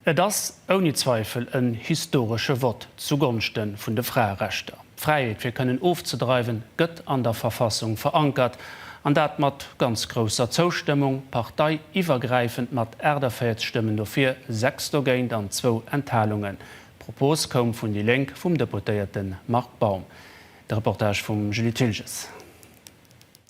Et ass ouni Zweifel en historesche Vott zu Gonschte vun de Fraerechter. D'Fräiheet fir kënnen ofzedreiwen gëtt an der Verfassung verankert, an dat mat ganz grousser Zoustëmmung, parteiiwwergräifend mat 48 Stëmmen dofir, 6 dogéint an zwou Enthalungen. D'Propos koum vun déi Lénk vum Deputéierte Marc Baum. De Reportage vum Julie Thilges.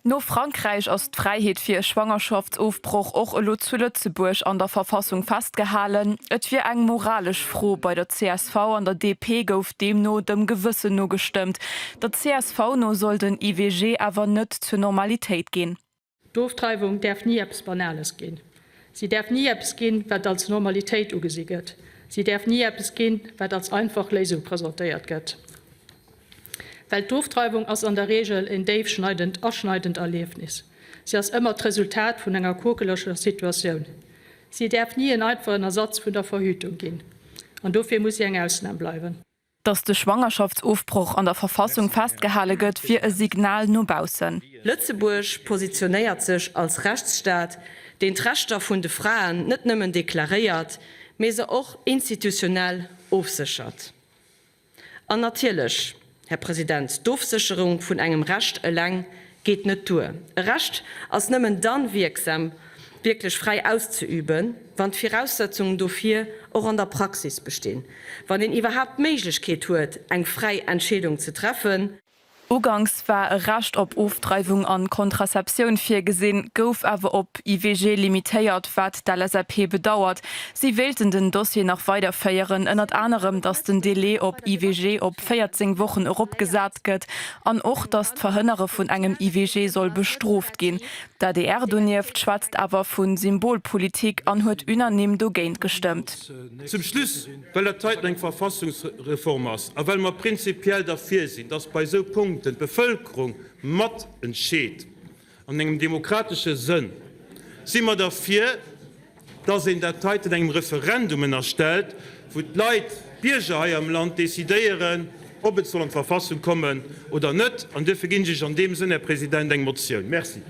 No Frankräich ass d'Fräiheet fir e Schwangerschaftsofbroch och elo zu Lëtzebuerg an der Verfassung festgehalen. Et wier eng moralesch Fro. Bei der csv an der DP gouf deemno dem Gewëssen no gestëmmt. Der csv no soll den IVG awer net zur Normalitéit ginn. D'Ofdreiwung däerf ni eppes Banales ginn. Si däerf ni eppes ginn, wat als Normalitéit ugesi gëtt. Si däerf ni eppes ginn, wat als einfach Léisung presentéiert gëtt. Well d'Ofdreiwung ass an der Reegel en déifschneidend, aschneidend Erliefnis. Si ass ëmmer d'Resultat vun enger quokeleger Situatioun. Si däerf ni en einfachen Ersatz vun der Verhütung ginn. An dofir muss si eng Ausnam bleiwen. Datt de Schwangerschaftsofbroch an der Verfassung festgehale gëtt, wier e Signal no baussen. Lëtzebuerg positionéiert sech als Rechtsstaat, deen d'Rechter vun de Fraen net nëmmen deklaréiert, mee se och institutionell ofséchert. An natierlech, Här President, d'Ofsécherung vun engem Recht eleng geet net duer. E Recht ass nëmmen dann wierksam, wierklech fräi auszeüben, wann d'Viraussetzungen dofir och an der Praxis bestinn, wann een iwwerhaapt d'Méiglechkeet huet, eng fräi Entscheedung ze treffen, Uganks war e Recht op Ofdreiwung an Kontraceptioun virgesinn, gouf awer op IVG limitéiert, wat d'LSAP bedauert. Si wéilten den Dossier nach weider féieren, ënnert anerem datt den Delai op IVG op 14 Wochen erop gesat gëtt an och datt d'Verhënnere vun engem IVG soll bestrooft ginn. D'adr donieft schwätzt awer vu Symbolpolitik an huet unanime dogéint gestëmmt. Zum Schluss Well dat heiten eng Verfassungsreform ass a well mer prinzipiell derfir sinn, dass bei esou Punkten d'Bevëlkerung mat entscheet an engem demokratesche Sënn, si mer derfir, dass een dat heiten engem Referendum ënnerstellt, wou d'Leit, d'Bierger hei am Land decidéieren, ob et soll an d'Verfassung kommen oder net. An duerfir ginn ech Iech an deem Sënn, Här President, eng Motioun. Merci.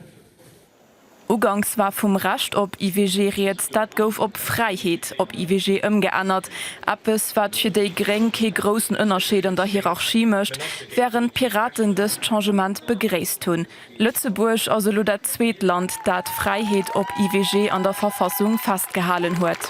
Uganks war vum Recht op IVG rieds, dat gouf op Fräiheet op IVG ëmgeännert, eppes wat fir déi gréng kee groussen Ënnerscheed an der Hierarchie mécht, wärend d'Piraten dëst Changement begréisst hunn. Lëtzebuerg ass elo dat zweet Land, dat d'Fräiheet op IVG an der Verfassung festgehalen huet.